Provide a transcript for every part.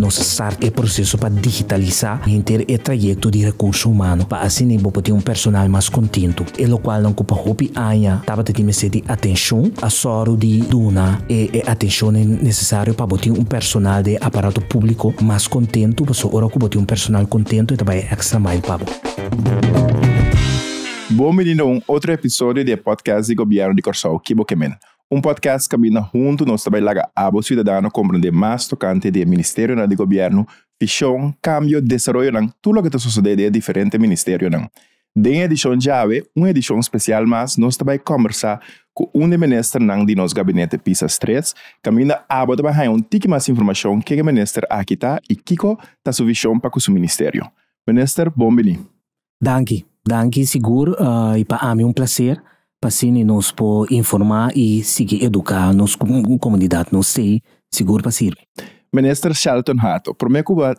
Nos start e proseso pa digitalisá henter e trayekto di rekurso humano pa asina bo por tin un personal mas kontentu, e lokual nan ku pa hopi aña tabata tin mester di atenshon, a sòru di duna e e atenshonan nesesario pa bo tin un personal den e aparato públiko mas kontentu, pasobra ora ku bo tin un personal kontentu e ta bai e extra mile pa bo. Bon bini na un otro episodio di e podcast di Gobièrnu di Kòrsou, Kibokemen. Un podcast Caminda Hunto nos ta bai laga abo ciudadano comprende mas tocante di e ministerionan di gobierno, vision, cambio, desaroyonan, tur loke ta sosode den e diferente ministerionan. Den e edicion djawe, un edicion special mas, nos ta bai combersa cu un di e ministernan di nos gabinete pisa stres, caminda abo ta bai haya un tiki mas informacion kege minister aki ta y kico ta su vision pa cu su ministerio. Minister, bon bini. Danki, danki sigur i pa ami un placer pa asini nos por informa i sigui educa nos comunidad nos sey sigur pa sirbi. Minister Shelton Hato, Prome cu bo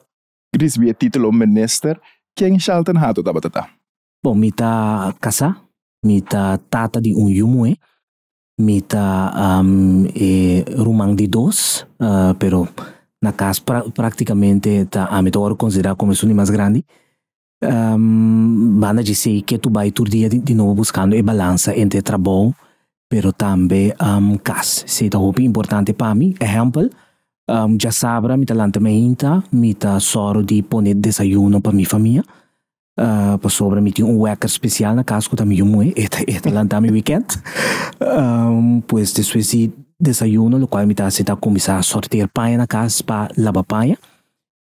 ricibi e titulo Minister, ken Shelton Hato tabata ta? Bon, mi ta casá, mi ta tata di un yu muhé, mi ta e ruman di dos, pero na cas practicamente ta ami ta word considerá como e su di mas grandi. Banda dje esei ke tu bai tur dia di nobo buskando e balansa entre trabou pero tambe kas. Esei ta hopi importante pa mi. Ehèmpel, djasabra mi ta lanta mi ainta, mi ta sòru di pone desayuno pa mi famia pasobra mi tin un wèker spesial na kas ku ta mi yu muhé, e ta e ta lanta mi wikènt. Pues despues di desayuno lokual mi ta hasi ta kuminsá sorteer paña na kas pa laba paña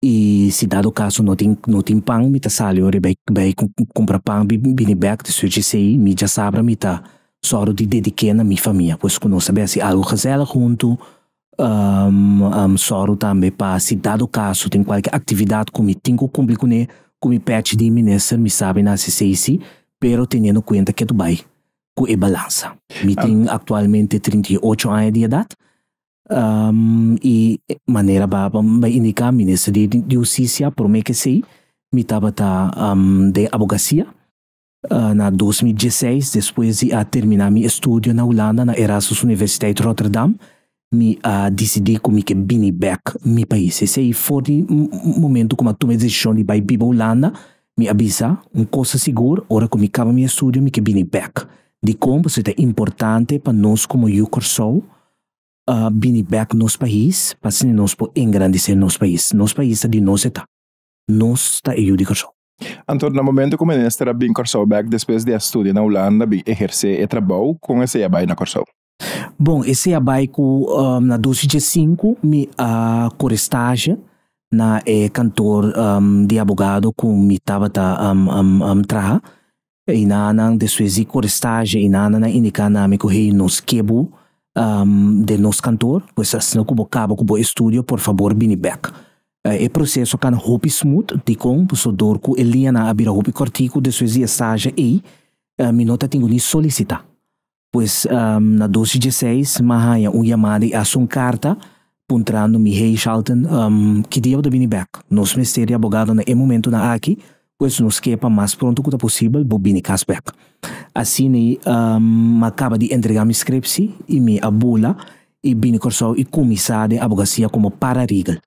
I si dado kaso no tin no tin pan, mi ta sali ora i bai kumpra pan i bini bèk di suchi esei. Mi djasabra mi ta sòru di dedik'é na mi famia, pues ku nos a bai hasi algu gezèlig huntu. Mi sòru tambe pa si dado kaso tin kualke aktividat ku mi tin ku kumpli kuné, ku mi pèchi di minister, mi sabi na hasi esei sí, pero teniendo kuenta ke ta bai ku e balansa. Mi tin aktualmente trinta i ocho aña di edat Um, i e manera ba ba indiká mi Minister di di Hustisia promé k'esei mi tabata um den abogasia. Uh na dos mil dieseis, despues di a terminá mi estudio na Hulanda na Erasmus Universiteit Rotterdam, mi a disidí ku mi ke bini bèk mi pais. Esei for di momentu ku mi a tuma e desishon di bai biba Hulanda. Mi a bisa un kos ta sigur, ora ku mi kaba mi estudio mi ke bini bèk. Dikon? Pasobra ta importante pa nos komo yu Kòrsou a bini bek nos pais pa asina nos por engrandece nos pais. Nos pais ta di nos eta. Nos ta e yu di Corsou. Anto na momento cu minister a bin Corsou bek despues di a studia na Hulanda bin eherce e trabou con esey a bay na Corsou. Bon esey a bay cu na dos y diesincu mi a core stage na e kantoor di abogado cu mi tabata traha E nanan despues di korestaje e nanannan indiká na mi ku hei nos ke bo den nos kantor, pues asina ku bo kaba ku bo estudio por fabor bini bèk. E proseso kana hopi smut, dikon? Pasobra dor ku e liñanan a bira hopi kòrtiku despues di e staje ei, mi no ta tin ku ni solisitá. Pues, na dos i dieseis m'a haña un yamada i hasi un karta puntrando mi, Hey Shalton, ki dia bo ta bini bèk? Nos mester di abogado na e momentunan aki, pues nos ke pa mas pronto ku ta posibel bo bini kas bèk. Asina m'a kaba di entregá mi skrepsi i mi a bula i bini Kòrsou i kuminsá den abogasia komo paralegal.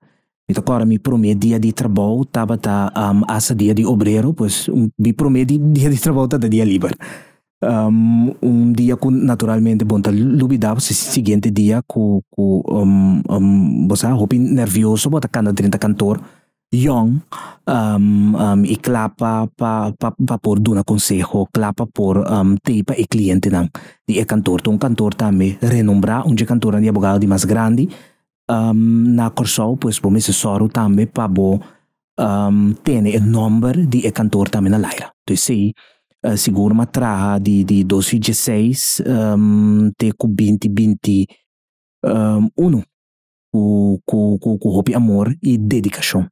Mi ta kòrda mi promé dia di trabou tabata asa dia di obrero, pues mi promé dia di trabou tabata dia liber. Un dia ku naturalmente bo no ta lubidá bo si siguiente dia ku ku bo sa hopi nervioso bo ta kanda drenta kantor yòn i kla pa pa pa por duna konseho, kla pa por tei pa e klientenan di e kantor. Ta un kantor tambe renombrá, un dje kantornan di abogado di mas grandi Na Kòrsou pues bo mester sòru tambe pa bo tene e nòmber di e kantoor tambe na laira. Tu esei sigur mi a traha di di dos i dieseis te ku binti binti unu ku ku hopi amor i dedikashon.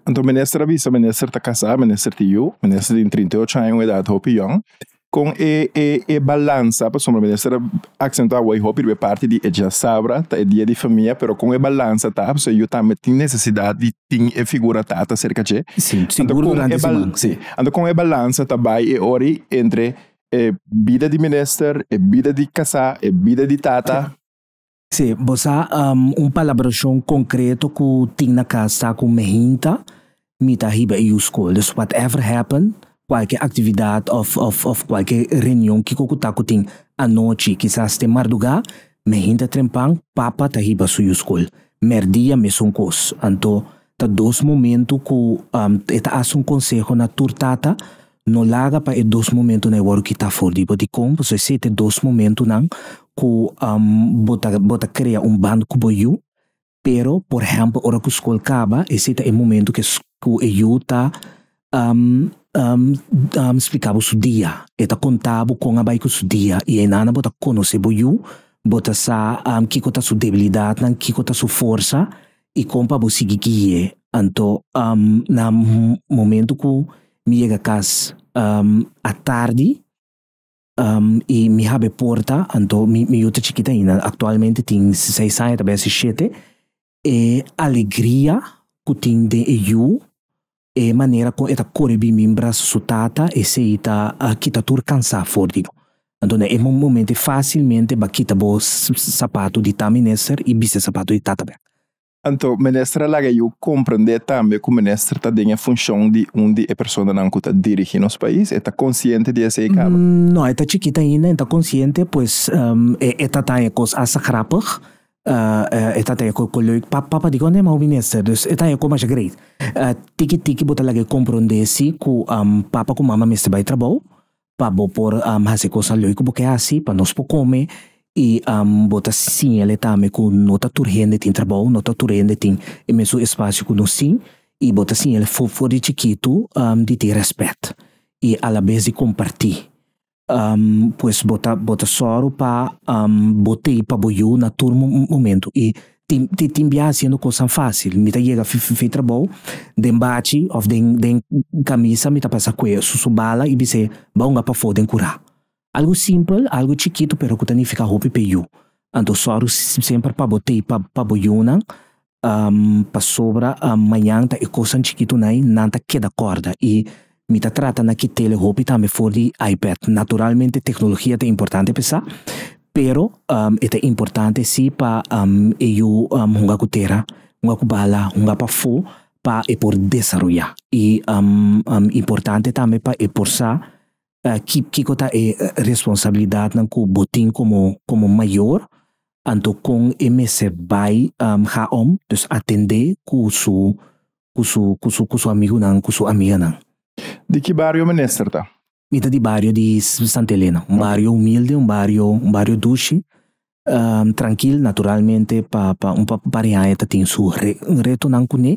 Anto minister a bisa minister ta kasá minister ta yu minister tin trinta y ocho aña un edad hopi yòn kon e e e balansa pasobra minister a aksentuá awor hopi riba e parti di e diasabra ta e dia di famia pero kon e balansa ta pasobra e yu tambe tin nesesidad di tin e figura tata serka dje anto kon e balansa si anto kon e balansa ta bai e ora ei entre e bida di minister e bida di kasá e bida di tata. Sí, bo sa un palabrashon konkreto ku tin na kas ta ku mi hinta mi ta hiba e yu skol. Dus whatever happened, kualke aktividat òf òf òf kualke reunion kiko ku ta ku tin anochi, kisas te mardugá, mi hinta trempan, papa ta hiba su yu skol. Mèrdia mesun kos. Anto Ta dos momento ku e ta hasi un konseho na tur tata, No laga pa e dos momentunan e wòru kitá for di bo. Dikon? Pasobra esei ta e dos momentunan ku bo ta bo ta krea un band ku bo yu, pero por ehèmpel ora ku skol kaba esei ta e momentu ku e yu ta splika bo su dia. E ta konta bo kon a bai ku su dia i einanan bo ta konosé bo yu. Bo ta sa kiko ta su debilidatnan, kiko ta su forsa i kon pa bo sigui guie. Anto na momentu ku mi yega kas a tardi i mi hab e porta, anto mi yu ta chikit aina, aktualmente tin seis aña ta bai a si shete, E alegria ku tin den e yu, e manera kon e ta kore bin mimbra su tata, esei ta kita tur kansá for di bo. Anto na e momentu ei fásilmente bo a kita bo sapatu di ta mester i bisti e sapatu di tata bek. Anto mester a laga e yu komprendé tambe ku mester ta den e funshon di un di e personanan ku ta dirigí nos pais. E ta konsiente di esei kaba? No, e ta chikit ainda, e no ta konsiente, pues e ta ta e kos hasta grapig. e ta taya ku leuk pa papa di konde mau minister dus e ta taya ku masha great tiki tiki bo ta laga e kompronde si ku papa ku mama mester bai trabou pa bo por hasi kosnan leuk ku bo ke hasi pa nos por kome i bo ta siñale tambe ku no ta tur hende tin trabou no ta tur hende tin e mesun espasio ku nos tin i bo ta siñale for for di chikitu di tin rèspèt i alabes di kompartí. Pues bo ta bo ta sòru pa bo tei pa bo yu na tur momentu. I tin tin tin biaha hasiendo kosanan fásil. Mi ta yega fei trabou den bachi òf den den kamisa mi ta pasa kue su su bala i bis'é bai ungá pafó den kurá. Algu simpel, algu chikitu pero ku ta nifiká hopi p'e yu. Anto sòru semper pa bo tei pa pa bo yunan. Pasobra mañan ta e kosnan chikitunai nan ta keda kòrda i mi ta trata na kit'el hopi tambe for di iPad. Naturalmente teknologia ta importante pa sa, pero e ta importante si pa e yu hunga ku tera, hunga ku bala, hunga pafó pa e por desaroyá. I importante tambe pa e por sa Ki kiko ta e responsabilidatnan ku bo tin komo komo mayor, anto kon e mester bai ha om, dus atendé ku su ku su ku su ku su amigunan, ku su amiganan? Di ki bario minister ta? Mi ta di bario di Santa Elena, un bario humilde, un bario un bario dushi, trankil naturalmente pa pa un par di aña ta tin su retonan kuné,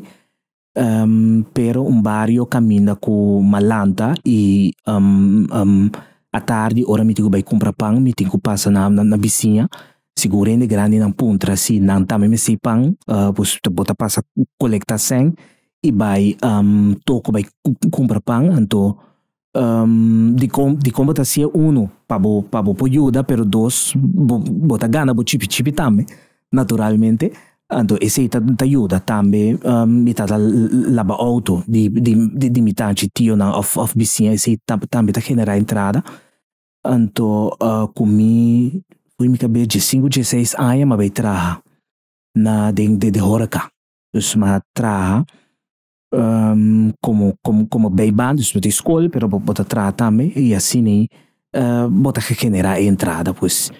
Pero un bario caminda cu malanta y atardi ora mi tin cu bay cumpra pan mi tin cu pasa na bisiña, si cu rende grandi nan puntra si nan tambe mester e pan pues bo ta pasa colecta sèn y bay toko bay cumpra pan anto dikon bo ta hacié uno pa bo pa bo por yuda pero dos bo bo ta gana bo chipi chipi tambe naturalmente anto esey ta ta yuda tambe mi ta laba auto di di di mi tachi tio nan of of bisiña esey tambe ta genera entrada anto ku mi pui mi kabes dies sinku dies seis aña mi a bai traha na den den horeca dus mi a traha como como como bay ban dus no tin school pero bo bo ta traha tambe y asina bo ta genera e entrada pues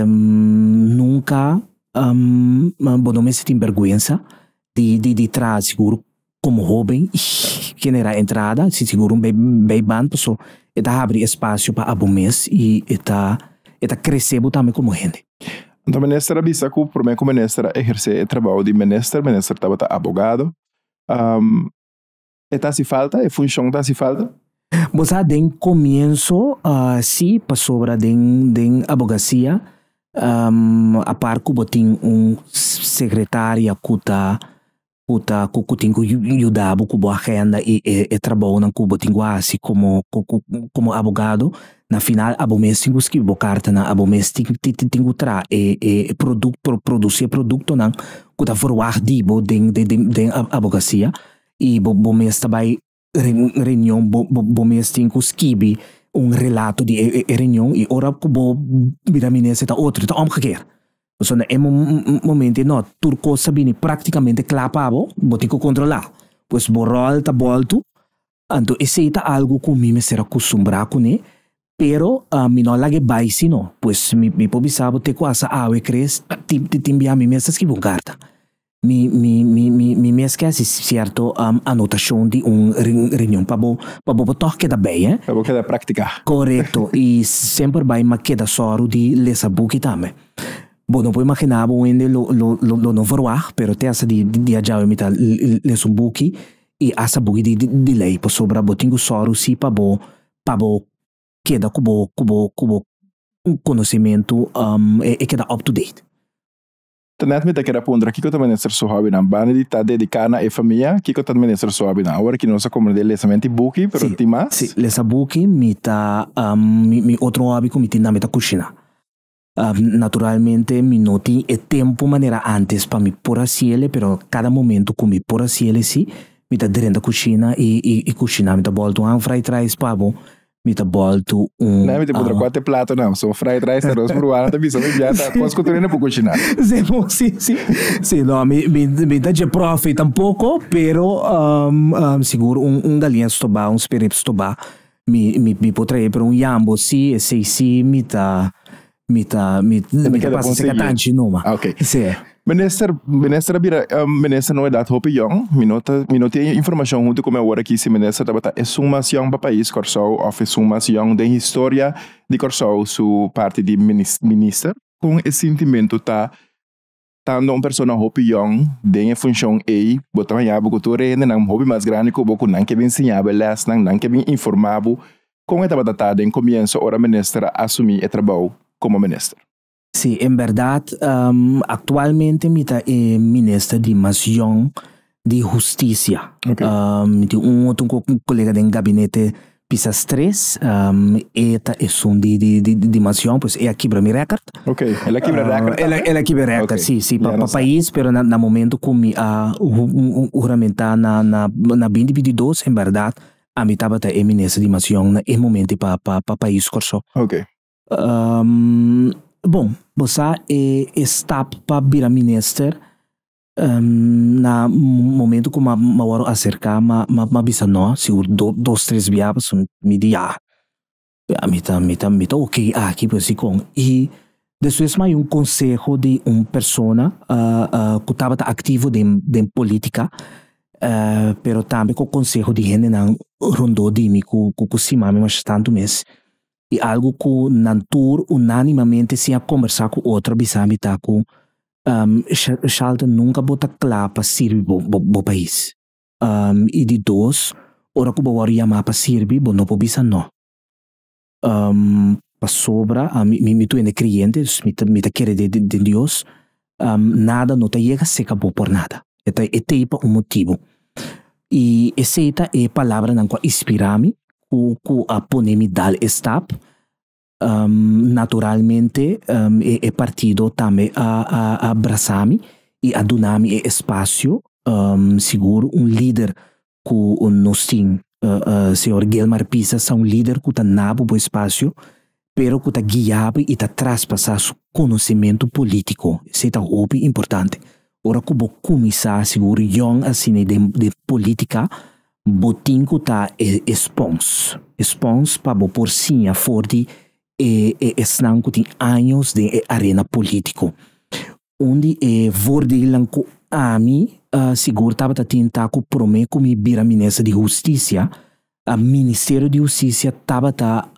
nunca bo no mester tin bergwensa di di di traha sigur como hoben y genera e entrada si sigur un bay ban pasobra e ta habri espacio pa abo mes y e ta e ta crece bo tambe como hende. Anto minister a bisa ku prome ku minister a ehersé e trabou di minister, minister tabata abogado. E ta hasi falta, e funshon ta hasi falta. Bo sa den komienso si, pasobra den den abogasia apar ku bo tin un sekretaria ku ta ku ta ku ku tin ku yuda bo ku bo agenda i e e trabounan ku bo tin ku hasi komo komo abogado na final abo mes tin ku skirbi bo kartanan abo mes tin tin ku traha e e produk produsi e produktonan ku ta verwagt di bo den den den abogasia i bo bo mes ta bai reunion bo, bo, bo mes tin ku skibi un relato di e, e reunion i ora ku bo bira minister ta otro, ta òmgekeer. So na e momento ei no, tur kos ta bini praktikamente kla pa bo, bo tin ku kontrolá. Pues bo ròl ta bòltu, anto esei ta algu ku mi mester a kustumbrá kuné, pero mi no a laga e bai si no. Pues mi, mi por bisa bo te ku asa awe kres tin, tin bia mi mester skibi un karta. Mi mi mi mi mi mi a skesi sierto anotashon di un reunion pa bo pa bo por tog keda bay eh. Pa bo keda praktika. Korekto i semper bay ma keda sòru di lesa buki tambe. Bo no por imaginá bo wende lo lo lo no verwagt pero te hasta di di adjawe mi ta lesa un buki i hasta buki di di lei pasobra bo tin ku sòru si pa bo pa bo keda ku bo ku bo ku bo konosementu e keda up to date. Tanet mi ta keda puntra kiko ta mester su hòbinan? Bandy ta dediká na e famia, kiko ta mester su hòbinan? Awor aki nos a komprendé lesa menti buki, pero tin mas. Sí, lesa buki, mi ta mi otro hòbi ku mi tin tambe ta kushiná. Naturalmente mi no tin e tempu manera antes pa mi por hasiele, pero kada momentu ku mi por hasiele sí, mi ta drenta kushina i kushiná. Mi ta bòltu han frijtraispabu, mi ta boltu un Nami te pudra cuate plato nam. So fried rice, arroz peruano, te bisa mi biata. Cos cu tu no por cocinar. Sí, mo, sí, sí. Sí, no, mi, mi, mi ta dje profe tampoco, pero um, um, sigur un, un galian stobá, un spirip stobá, mi, mi, mi por trae, pero un jambo sí, esei sí mi ta, Mi ta, mi, mi ta pasa seca tanchi numa. Ah, okay. Sí. Minister, minister Abira, uh, eh, minister no edad hopi jong, mi no, ta, mi no tiene información junto con mi ahora aquí si minister tabata es un más jong pa país Corsou of es un más jong den historia di Corsou su parte di minister. Con e sentimento ta Tando un persona hopi yòn den e funshon ei, bo ta haña bo ku tur e hendenan hopi mas grandi ku bo ku nan ke bin siña bo e lèsnan, nan ke bin informá bo kon e tabata ta den komienso ora minister a asumí e trabou komo minister. Sí, en bèrdat, aktualmente mi ta e minister di mas yòn di Husticia. Okay. Um, mi tin un otro colega den gabinete pisas tres, um, e ta e son di, di, di, di mansión, pues e aquí mi record. Ok, el aquí mi ah, record. El, el aquí mi record, okay. sí, sí, para pa país, pero na, na momento con mi a uh, juramenta na, na, na 2022, en verdad, a mi tabata e minister di mansión na e momento pa, pa, pa país Corsó. Ok. Um, bom, bosa e, e stap pa bira minister, Na momento ku ma wòru aserká ma ma bisa nò, sigur dos tres bia pasobra mi di ya mi ta mi ta mi ta ok aki pues dikon. I despues ma bai un konseho di un persona ku tabata aktivo den den polítika pero tambe ku konseho di hendenan rondó di mi ku ku stima mi masha tantu mes. i algu ku nan tur unánimamente sin a kombersá ku otro a bisa mi ta ku, Shalton, nunka bo ta kla pa sirbi bo bo pais. I di dos, ora ku bo wòrdu yamá pa sirbi, bo no por bisa no. Pasobra mi mi tu hende kreyente, dus mi ta kere den Dios, Nada no ta yega seka bo por nada. E ta e tei pa un motibu. I esei ta e palabranan ku a inspirá mi, ku ku a pone mi dal e stap. Naturalmente e partido tambe a a a brasá mi i a duna mi e espasio sigur un lider ku nos tin. Señor Guilmar Pisa sa un lider ku ta na bo bo espasio, pero ku ta guia bo i ta traspasá su konosementu polítiko. Esei ta hopi importante. Ora ku bo kuminsá, sigur yòn asina den polítika, bo tin ku ta e e spons. E spons pa bo por siña for di e e esnan ku tin años den e arena polítiko. Un di e vordeelnan ku ami sigur tabata tin ta ku promé ku mi bira minister di hustisia, Ministerio di Hustisia tabata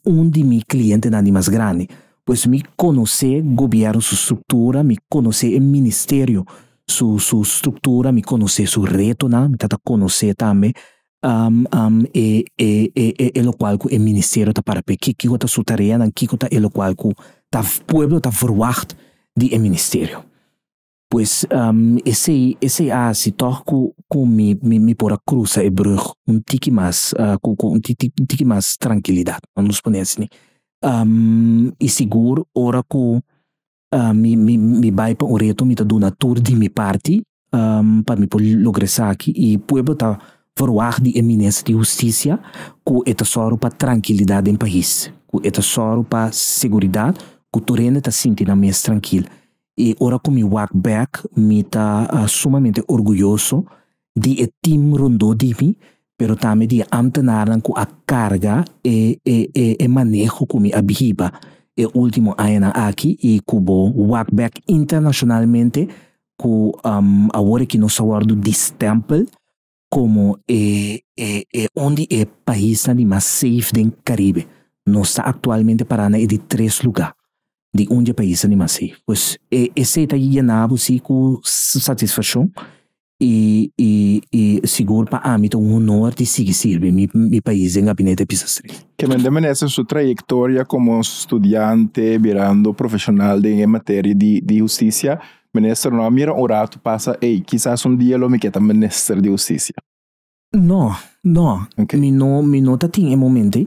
un di mi klientenan di mas grandi. Pues mi konosé gobièrnu su struktura, mi konosé e ministerio su su struktura, mi konosé su retonan, mi tabata konosé tambe Um, um, e, e, e, e, e lokual ku e ministerio ta para p'e, ki, kiko ta su tareanan, kiko ta e lokual ku ta, pueblo ta verwagt di e ministerio. Pues, um, esei, esei a hasi tòg ku, ku mi, mi, mi por a krusa e brùg un tiki mas, ah, ku, ku un tiki, un tiki mas trankilidat, nos pone asina. Um, i sigur, ora ku Mi bai pa un reto, mi ta duna tur di mi parti pa mi por logra esaki i pueblo ta verwagt di e Minister di Hustisia ku e ta sòru pa trankilidat den pais, ku e ta sòru pa seguridat ku tur hende ta sinti nan mes trankil. I ora ku mi wak bèk mi ta sumamente orguyoso di e tim rondó di mi, pero tambe di e amtenarnan ku a karga e e e e maneho ku mi a bihiba e último añanan aki i ku bo wak bèk internashonalmente ku awor aki nos a wòrdu distèmpel komo e e e un di e paisnan di mas seif den Karibe. Nos ta aktualmente pará na e di tres lugá di un di e paisnan di mas seif. Pues esei ta yená bo si ku satisfakshon i i i sigur pa ami ta un honor di sigui sirbi mi mi pais den Gabinete Pisasri. Kende menester in su trayectoria como studiante birando profesional den e materia di di husticia menester no a mira un rato pasa ey kisas un dia lo mi ke ta minister di husticia. No, no. Okay. Mi no, mi no ta tin e momente.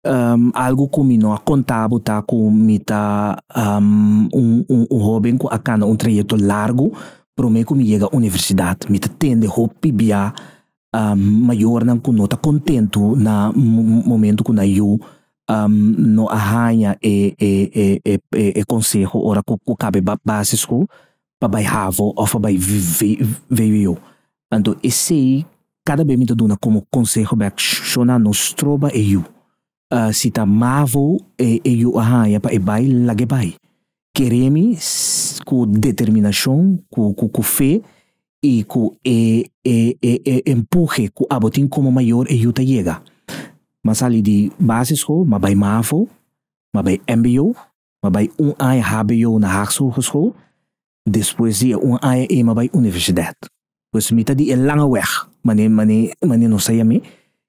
Um, algo ku mi no a kontabo ta ku mi ta um, un, un, un hoben ku a kana un trayekto largo promé ku mi yega universidat. Mi ta tende hopi bia um, mayornan ku no ta kontentu na momentu ku na yu um, no a haña e, e, e, e, e, e konseho ora ku, ku kabe base school. pa bai havo of pa bai VWO. Anto esey cada bes mi ta duna como conseho bek shona no stroba e yu. Si ta mavo e yu a haya pa e bai lague bai. Keremi cu determinacion cu cu fe y cu e e empuje cu abo tin como mayor e yu ta yega. Ma sali di basischool ma bai mavo, ma bai mbo. m'a bai un aña hbo na Haagse Hogeschool, despues di e un aña ei m'a bai universidad. Pues mi ta di e langa wèg, manera manera manera nos ta yam'é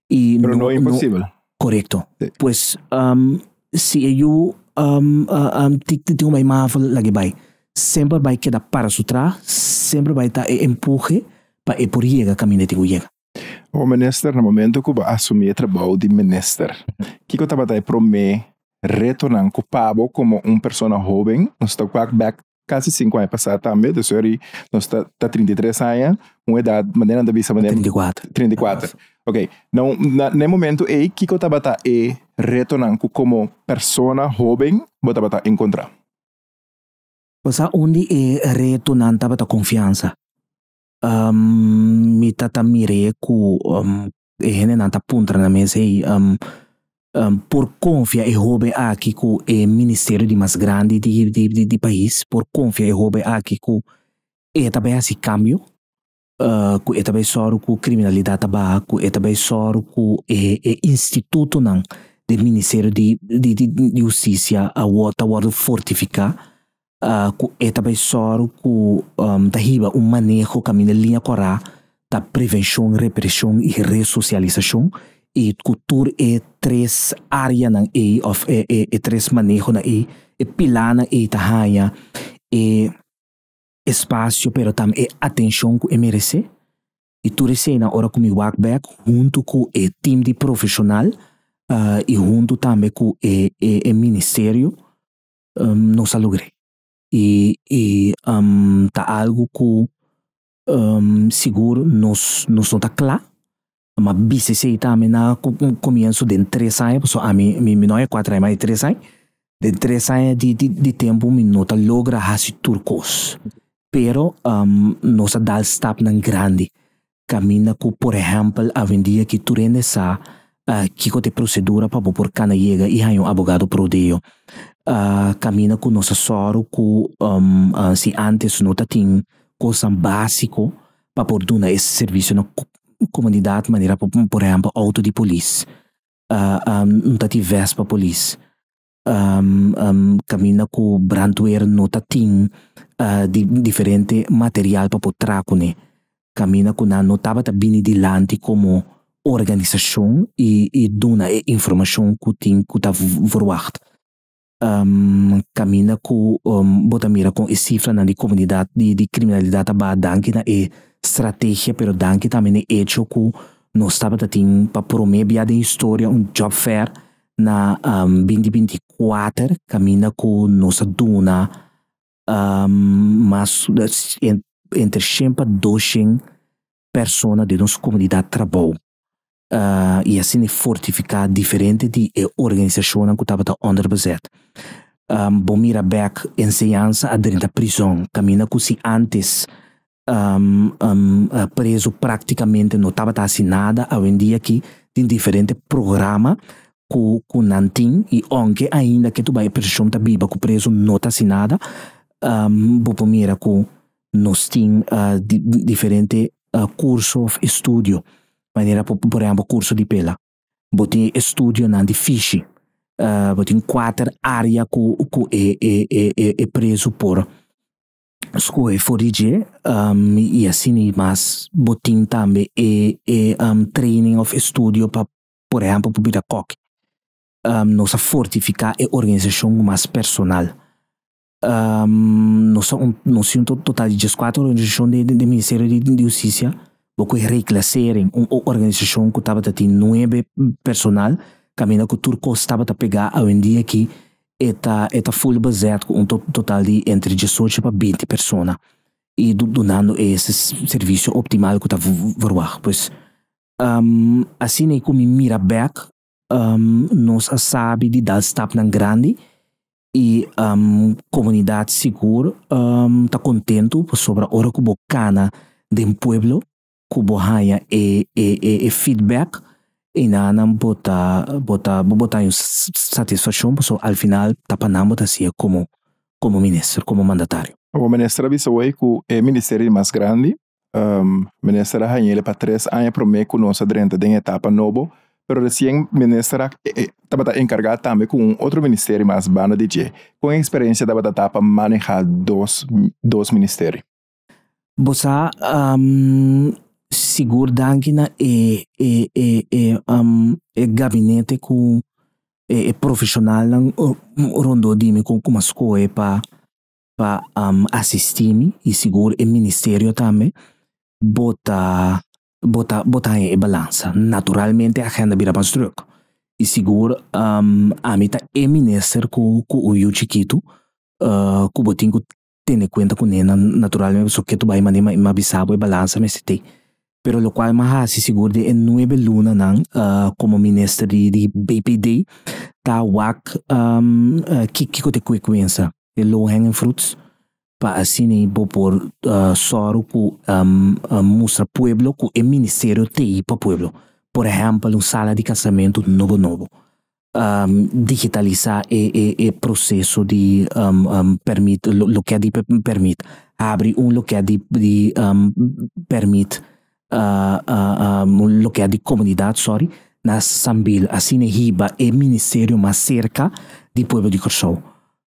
i Pero no imposibel. Correcto. Sí. Pues um, si e yu um, uh, um, ti, ti, ti un bai mafo lag'é bai, semper bai keda para su tra, semper bai ta e empuje pa e por yega caminda ei tin cu yega. Hopi minister na momento ku bo asumí e trabou di minister kiko tabata e promé retonan ku pa bo komo un persona hoben nos ta wak bek kasi sinku aña pasá tambe ta seri nos ta ta trinta i tres aña un edat manera nan ta bisa manera trinta i kuater trinta i kuater ok nou na na e momento ei kiko tabata e retonan ku komo persona hoben bo tabata enkontrá. Bo sa un di e retonan tabata konfiansa Um, mi ta ta mir'é ku um, e hendenan ta puntra na mi esei, um, um, por konfia e hobe aki ku e ministerio di mas grandi di, di, di, di pais? Por konfia e hobe aki ku e ta bai hasi kambio? Uh, ku e ta bai sòru ku kriminalidat ta baha? Ku e ta bai sòru ku e, e institutonan den ministerio di, di, di, di hustisia a wòrdu, ta wòrdu fortifiká? ku e ta bai sòru ku ta hiba un maneho kaminda liña kòrá ta prevenshon, represhon i resosialisashon i ku tur e tres áreanan ei òf e e tres manehonan ei, e pilánan ei ta haña e espasio pero tam e atenshon ku e meresé. I tur eseinan ora ku mi wak bèk huntu ku e tim di profeshonal i huntu tambe ku e e e ministerio, no salubre y y ta algo cu sigur nos nos no ta cla, a bisa esey ta ami na comienso den tres aña pasobra ami mi no aña cuatro aña mas tres aña, den tres aña di tempo mi no ta logra hasi tur cos pero nos a dal stapnan grandi Caminda cu por ehempel Avendia ki tur hende sa kico t'e procedura pa bo por cana yega y haña un abogado prodeo. Caminda cu nos a soro cu si antes no ta tin cosnan basico pa por duna e servicio na comunidad manera por ehempel auto di polis, no ta tin vest pa polis. caminda cu brandweer no ta tin diferente material pa por traha cune. Caminda cu nan no tabata bini dilanti como organisacion y duna e informacion cu tin cu ta verwacht. Caminda cu bo ta mira con e cifranan di comunidad di criminalidad ta baha danki na e strategia pero danki tambe na e hecho cu nos tabata tin pa prome bia den historia un job fair na um, binti binti kuater kaminda ku nos a duna um, mas entre shen pa doshen persona di nos komunidat trabou uh, i asina e fortifiká diferente di e organisashonnan ku tabata onder bezèt. Um, bo mira bèk enseñansa adrenta prizòn kaminda ku si antes preso práktikamente no tabata hasi nada, awendia aki tin diferente programa ku ku nan tin i ounke ainda ke tu bai opozishon ta biba ku preso no ta hasi nada bo por mira ku nos tin diferente kurso òf estudio manera ku por ehèmpel kurso di pela, bo tin e studionan di fishi, bo tin kuater área ku ku e e e preso por skohe for di dje y asina y mas bo tin tambe e e training of estudio pa por ehempel pa bira kok nos a fortifica e organisacion cu mas personal nos a nos tin un total di dies cuatro organisacion den den ministerio di husticia bo cu e reclasering un organisacion cu tabata tin nuebe personal caminda cu tur cos tabata pega awendia aki e ta e ta full bezet cu un total di entre diesocho pa binti persona y dunando e servicio optimal cu ta verwagt. Pues asina y cu mi mira bek nos a sabi di dal stapnan grandi y comunidad sigur ta contento pasobra ora cu bo cana den pueblo ku bo haña e e e e feedback i na nan bo ta bo ta bo ta haña satisfakshon pasobra al final ta pa nan bo ta hasié komo komo minister komo mandatario. Bo minister a bisa wei ku e ministerio di mas grandi minister a hañel pa tres aña promé ku nos a drenta den e etapa nobo pero resien minister a tabata enkargá tambe ku un otro ministerio mas banda di dje kon eksperensia tabata ta pa manehá dos dos ministerio. Bo sa sigur danki na e e e e e gabinete ku e profeshonalnan rondó di mi ku ku mi a skohe pa pa asistí mi i sigur e ministerio tambe bo ta bo ta bo ta haña e balansa. Naturalmente e agenda bira mas drùk i sigur ami ta e minister ku ku un yu chikitu ku bo tin ku tene cuenta cu nenan naturalmente so ketu bai mane ma e ma bisa bo e balansa mester tei. Pero locual e ma haci sigur den e nuebe lunanan como minister di di BPD ta wak ki kico ta e cuecuensa, e low hanging fruits, pa asina bo por soro cu mustra pueblo cu e ministerio tei pa pueblo. Por ehempel un sala di casamento nobo nobo, digitalisá e proseso di pèrmit, loke di pèrmit, habri un loke di pèrmit, un loke di komunidat, sòri, na Sambil asina hiba e ministerio mas serka di pueblo di Kòrsou.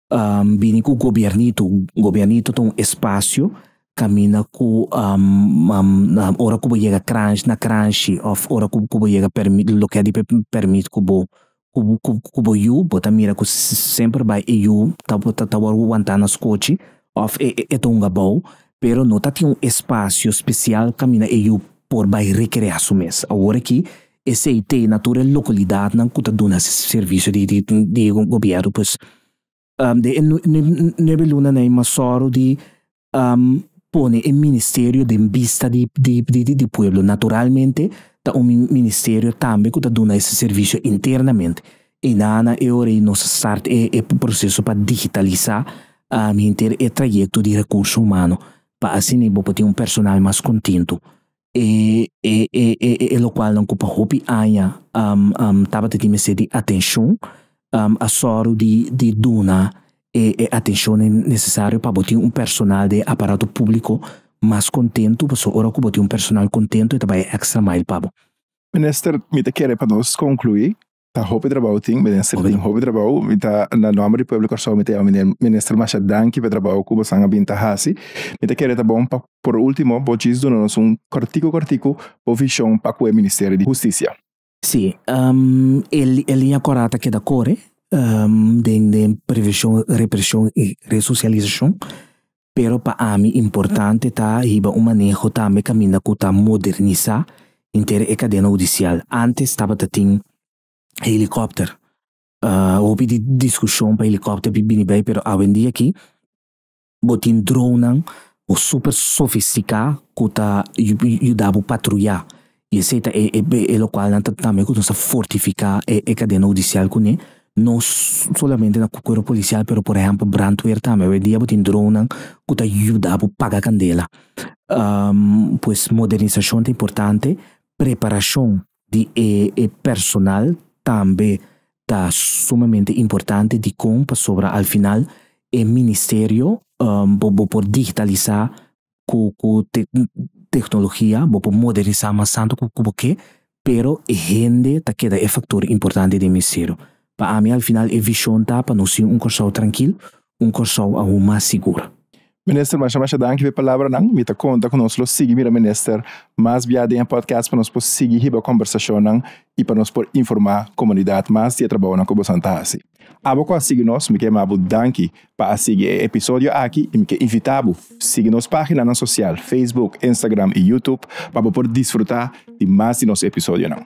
um, bini ku gobiernito. Gobiernito ta un espasio kaminda ku um, um, um, ora ku bo yega kranshi, na kranshi of ora ku, ku bo yega permit, lo ke di permit ku bo ku, ku, ku bo yu, bo ta mira ku semper bai e yu ta, ta, ta wòrdu wantá na skochi of e, e ta hunga bou, pero no ta tin un espasio spesial kaminda e yu por bai rekreá su mes. Awor aki Esei te na tur e localidadnan cu ta duna servicio di di gobierno pues den e nuebe lunanan i masoro di pone e ministerio den bista di di di pueblo. Naturalmente ta un ministerio tambe cu ta duna ese servicio internamente. I na na e ora i nos a start e e proceso pa digitalisa henter e trayecto di recurso humano pa asina bo por tin un personal mas contento E e e e e lokualnan ku pa hopi aña um um tabata tin mester di atenshon um a sòru di di duna e e atenshonnan nesesario pa bo tin un personal den e aparato públiko mas kontentu pasobra ora ku bo tin un personal kontentu e ta bai e èkstra mail pa bo. Minister, mi ta kere pa nos konkluí Ta hopi trabou tin, minister tin hopi trabou. Mi ta na nomber di pueblo Kòrsou mi ta yama miner minister masha danki pa e trabou ku bosan a bin ta hasi. Mi ta kere ta bon pa por ultimo bo djis duna nos un kortiku kortiku bo vishon pa ku e ministerio di hustisia. Sí, e liña kòrá ta keda kore den den previshon, reprishon i resosialisashon. Pero pa ami importante ta hiba un maneho tambe kaminda ku ta modernisá henter e kadena hudisial. Ántes tabatatin helikòpter. Hopi di diskushon pa helikòpter bin bini bai pero awendia aki bo tin dronnan super sofistiká ku ta yuda bo patruyá I esei ta e, e, e lokual nan ta tambe ku nos ta fortifiká e, e kadena hudisial kuné. No solamente na kuerpo polisial pero por ehèmpel brandweer tambe. Hoydia bo tin dronnan ku ta yuda bo paga kandela. Um pues modernisashon ta importante, preparashon di e, e personal tambe ta sumamente importante dikon pasobra al final e ministerio um bo, bo por digitalisá cu cu tecnologia bo por modernisa mas tanto cu cu bo ke pero e hende ta keda e factor importante den mi ciru. Pa ami al final e vision ta pa nos tin un Kòrsou trankil, un Kòrsou aun mas sigur. Minister masha masha danki pa e palabranan. Mi ta conta cu nos lo sigui mira Minister mas bia den e podcast pa nos por sigui hiba conversacionnan y pa nos por informa comunidad mas di e trabaonan cu boso antahaci. Abo cu a sigui nos mi ke mabu danki pa a sigui e episodio aki y mi ke invita bo sigui nos paginanan social Facebook, Instagram y YouTube pa bo por disfruta di mas di nos episodionan.